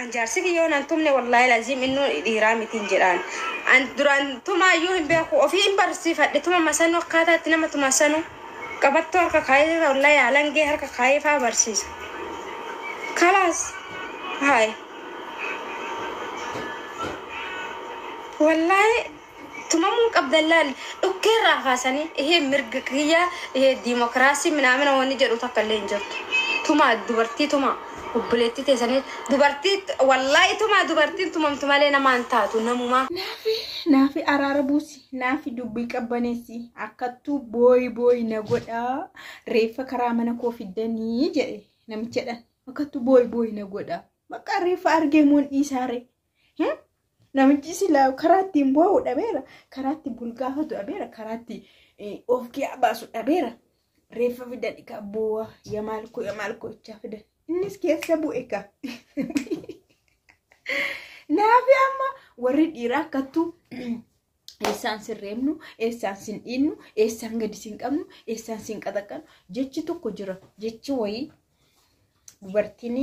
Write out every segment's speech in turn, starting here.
An jaarsi kiyyoo nan tumne wallahi laziim innu dhiiraa mitiin jedhaan an duraan tumaa iyyuu hin beeku ofii hin barsiifadhe tuma masanu akkaataa itti nama tuma sanu qabattoo harka kaayee wallahi alangee harka kaayee faa barsiisa kalaas haay wallahi Tumamuu qabdan laal dhukkeerraa kaasanii ihee mirga kiyya ihee dimokraasii minaamina wanni jedhu takka illee hin jirtu. Tumaa dubartii tumaa obboleettii teessanii dubartii wallaahi tumaa dubartiin tumamtu malee namaa hin taatu namumaa. Naafi naafi araara buusi naafi dubbii qabbaneessi akkattuu booyi booyi na godhaa reeffa karaa mana koo fiddanii jedhe namichadhan akkattuu booyi booyi na godhaa bakka reeffa argee moon dhiisaare Namichi silaa karaa ittiin boo'u dhabeera. Karaa ittiin bulgaafatu dhabeera. Karaa ittiin of kiyaa baasu dhabeera. Reeffa fidan egaa boo'a ya maalkoo ya maalkoo jechaa fidan. Innis keessa bu'e egaa. Naafi amma warri dhiiraa akkattuu eessaan sin reebnu eessaan sin dhiinnu eessaan gadi sin qabnu eessaan sin qaxaqqanu jechi tokko jira jechi wayii dubartiin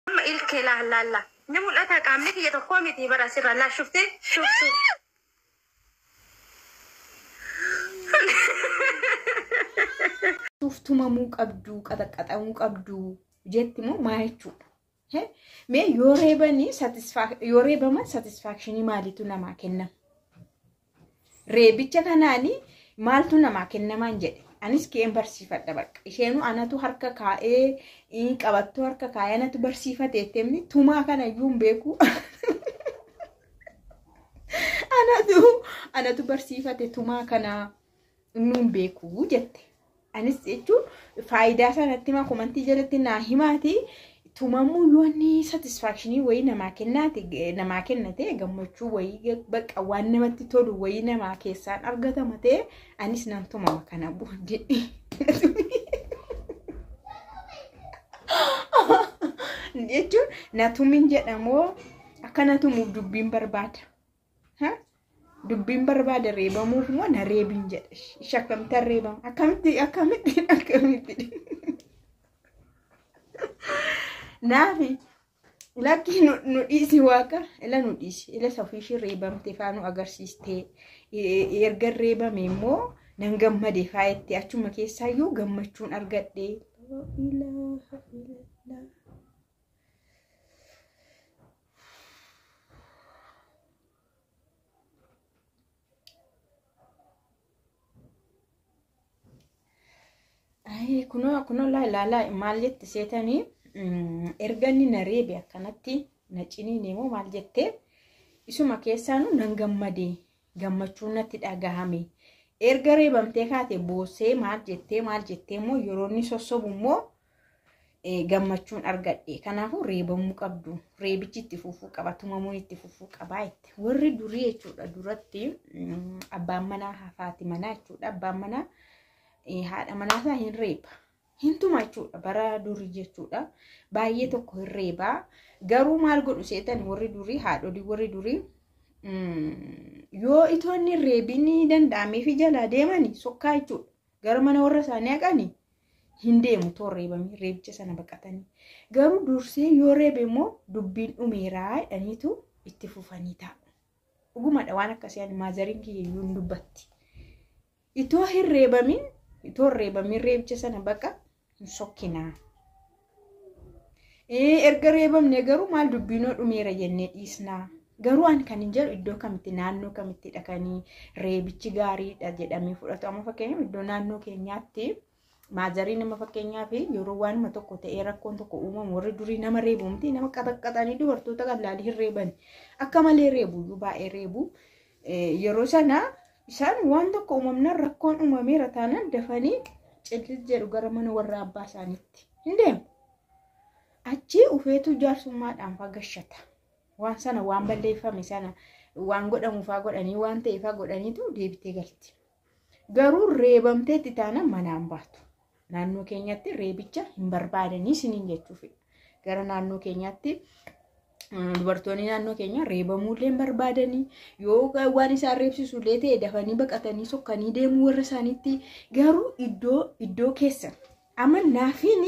Amma ilkee laallaalla. Ni mul'ata qaamni kiyya tokkoo miti bara asirraa naa shufte shuftu. tumamuu qabdu qaxaqqaxamuu qabdu jetti moo maa jechuudha Mee yoo reebanii yoo reebaman satisfaakshinii maaliitu namaa kennama? Reebicha kanaanii maaltu namaa kennamaan jedhe anis ka'een barsiifadha bakka isheenuu anatu harka kaa'ee in qabattoo harka kaa'ee anatu barsiifate jetteemni tumaa kana iyyuu hin beeku anatu anatu barsiifate tumaa kana Nuun beekuu jette. Anis jechuun faayidaa isaa natti himaa komantii jalatti naa himaati. Tumamuu yoo inni satisfaakshinii wayii namaa kennaati namaa kennate gammachuu wayii bakka waan namatti tolu wayii namaa keessaan argatama ta'e anis nan tumama kana booddee. jechuun natumin jedhamoo akka natumuuf dubbiin barbaada. Dubbiin barbaade reebamuuf moo na reebin jedhe. Ishi akkamitti reebama? Akkamitti akkamitti akkamitti. Naafi lakki nu dhiisi waaqa ila nu dhiisi ila safiishii reebamte faa nu agarsiistee erga reebame immoo nan gammade faa itti achuma keessaayyuu gammachuun argadhe. kunoo kunoo laa ilaalaa maal jette seetanii erga inni na reebe akkanatti na ciniine moo maal jette isuma keessaanu nan gammade gammachuu natti dhagahame erga reebamtee kaate boossee maal jettee maal jettee immoo yeroo inni sossobu immoo gammachuun argadhe kanaafuu reebamuu qabdu reebichi itti fufuu qaba tumamuun itti fufuu qabaa jette warri durii jechuudha duratti abbaan manaa hafaati manaa jechuudha abbaan manaa haadha manaa isaa hin reeba hin tuma jechuudha bara durii jechuudha baay'ee tokko hin reeba garuu maal godhu seetan warri durii haadholii warri durii yoo itoonni reebiin danda'ameefi jalaa deemani sokkaa jechuudha Gara mana warra isaanii haqani hin deemu too reebamee reebicha sana baqatanii. Garuu dursee yoo reebe immoo dubbiin dhumeeraa jedhaniitu itti fufanii taa'u. Dhugumadha waan akkasii ani maazariin kiyya iyyuu hin dubbatti. Itoo hin reebamin itoo hin reebamin reebicha sana baqa hin sokkinaa. Erga reebamne garuu maal dubbiinoo dhumeera jennee dhiisnaa. Garuu an kan hin jedhu iddoo kamitti naannoo kamitti dhaqanii reebichi gaariidha jedhamee fudhatu. Amma fakkeenyaaf iddoo naannoo keenyaatti maazarii nama fakkeenyaaf yeroo waanuma tokko ta'ee rakkoon tokko uumamu warri durii nama reebu miti nama qaxaqqaxanii dubartoota qal'aalii hin reeban akka malee reebu iyyuu baay'ee reebu. Yeroo sana isaan waan tokko uumamnaan rakkoon uumameera taanaan dafanii cillil jedhu gara mana warra abbaa isaaniitti hin deemu. Achii ufeetuu jaarsummaadhaan fagashata. Waan sana waan balleeffame sana waan godhamuufaa godhanii waan ta'eefaa godhaniitu deebitee galti. Garuu reebamteetti taanaan manaan baatu. Naannoo keenyatti reebicha hin barbaadanii isiniin jechuufi. Gara naannoo keenyaatti dubartoonni naannoo keenya reebamuullee hin barbaadanii yoo waan isaan reebsisullee ta'e dafanii baqatanii sokkanii deemuu warra isaaniitti garuu iddoo iddoo keessan Amma naafiin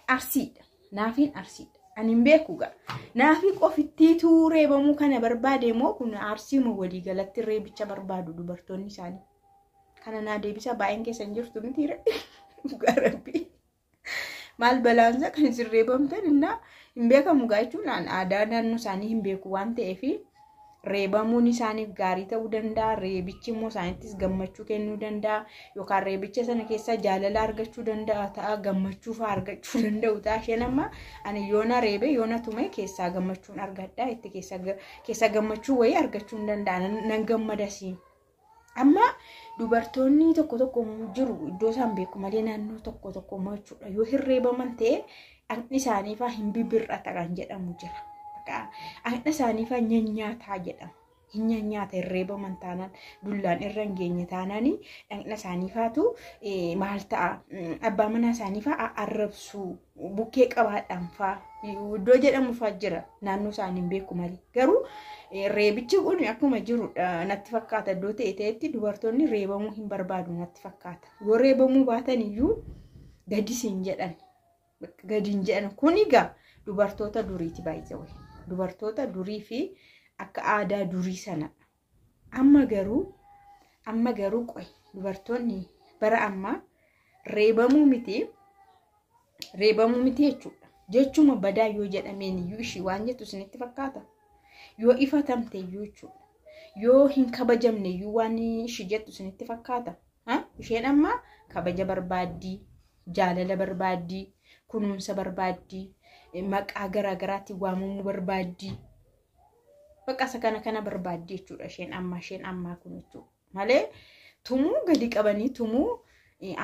arsiidha. Naafiin arsiidha. Ani hin beeku gaa. Naafii qofittiitu reebamuu kana barbaade moo kun arsiima walii galatti reebicha barbaadu dubartoonni isaanii. Kana naa deebisaa baay'een keessa hin jirtu miti dhugaa rabbii. Maal balaansa kan isin reebamtan innaa hin beekamu gaa jechuun aadaa naannoo isaanii hin beeku waan ta'eef reebamuun isaaniif gaarii ta'uu danda'a reebichi immoo isaanittis gammachuu kennuu danda'a yookaan reebicha sana keessaa jaalala argachuu danda'a ta'a gammachuu fa'aa argachuu danda'u ta'a isheen amma ani yoona reebee yoona tumee keessaa gammachuun argadha itti keessaa gammachuu wayii argachuu hin danda'a nan gammadasiin Amma dubartoonni tokko tokko jiru iddoo isaan beeku malee naannoo tokko tokko immoo jechuudha yoo hirreebaman ta'e dhaqni isaanii fa'aa hin bibir'ata kan jedhamu jira. Dhaqna isaanii fa'aa nyanyaataa jedhama. Hin nyanyaata hirreebaman taanaan dullaan irra hin geenye taanaan dhaqna isaanii fa'aatu maal ta'a abbaa manaa isaanii fa'aa arrabsuu bukkee qabaadhaan faa iddoo jedhamu faa jira naannoo isaanii hin beeku malee garuu reebichi kun akkuma jirudha natti fakkaata iddoo ta'e ta'etti dubartoonni reebamuu hin barbaadu natti fakkaata yoo reebamuu baatan iyyuu gadi siin jedhan gadi hin jedhan kun egaa dubartoota duriiti baay'ee dubartoota durii fi akka aadaa durii sanadha Amma garuu amma garuu qoy dubartoonni bara ammaa reebamuu miti reebamuu miti jechuudha. Jechuma badaa yoo jedhameen iyyuu ishii waan jettu isinitti fakkaata. Yoo ifatamte iyyuu jechuudha. Yoo hin kabajamne iyyuu waan ishii jettu isinitti fakkaata. Isheen amma kabaja barbaaddii, jaalala barbaaddii, kunuunsa barbaaddii, maqaa garaagaraatiin waamamuu barbaaddii. Baqqasa kana kana barbaaddi jechuudha isheen ammaa isheen ammaa kun jechuudha. Malee tumuu gadi qabanii tumuu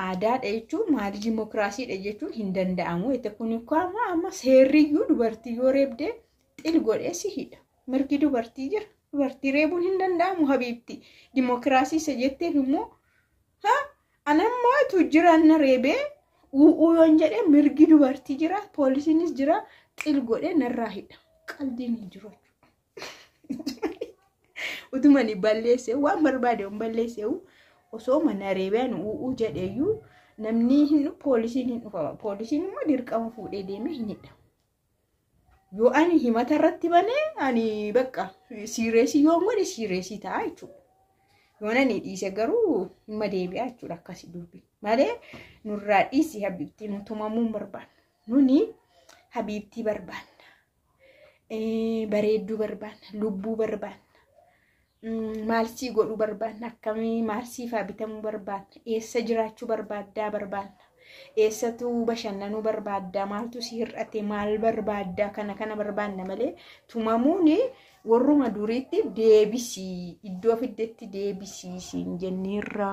aadaadha jechuun maalii dimookiraasiidha jechuun hin danda'amu. Itti kun amma amma seerriyyuu dubartii yoo reebdee xil godhee si hidha. Mirgi dubartii jira. Dubartii reebuun hin danda'amu habiibti. Dimookiraasii isa jetteef immoo An amma tuujjiraan na reebee u'uu yoon jedhe mirgi dubartii jira poolisiinis jira xil godhe narraa hidha qaldiin hin jiru utumani balleesse waan barbaade hin balleesse osoo mana reebeen u'uu jedheeyyuu namni hin poolisiin hin dhufama poolisiin immoo dirqama fuudhee deemee hin hidha Yoo ani himata irratti bane ani bakka siireesii yoo godhe siireesii ta'a jechuudha. Yoo ani dhiise garuu dhimma deebi'aa jechuudha akkasii dubbi. Malee nurraa dhiisi habiibtii nu tumamuu hin barbaannu. Nuni habiibtii barbaanna. Bareedduu barbaanna. Lubbuu barbaanna. maal sii godhuu barbaadna akkamii maal siifaa bitamuu barbaadna eessa jiraachuu barbaaddaa barbaadna eessatu bashannanuu barbaaddaa maaltu si hir'ate maal barbaaddaa kana kana barbaadna malee tumamuun warruma duriitti deebisii iddoo fiddetti deebisii siin jenneerra.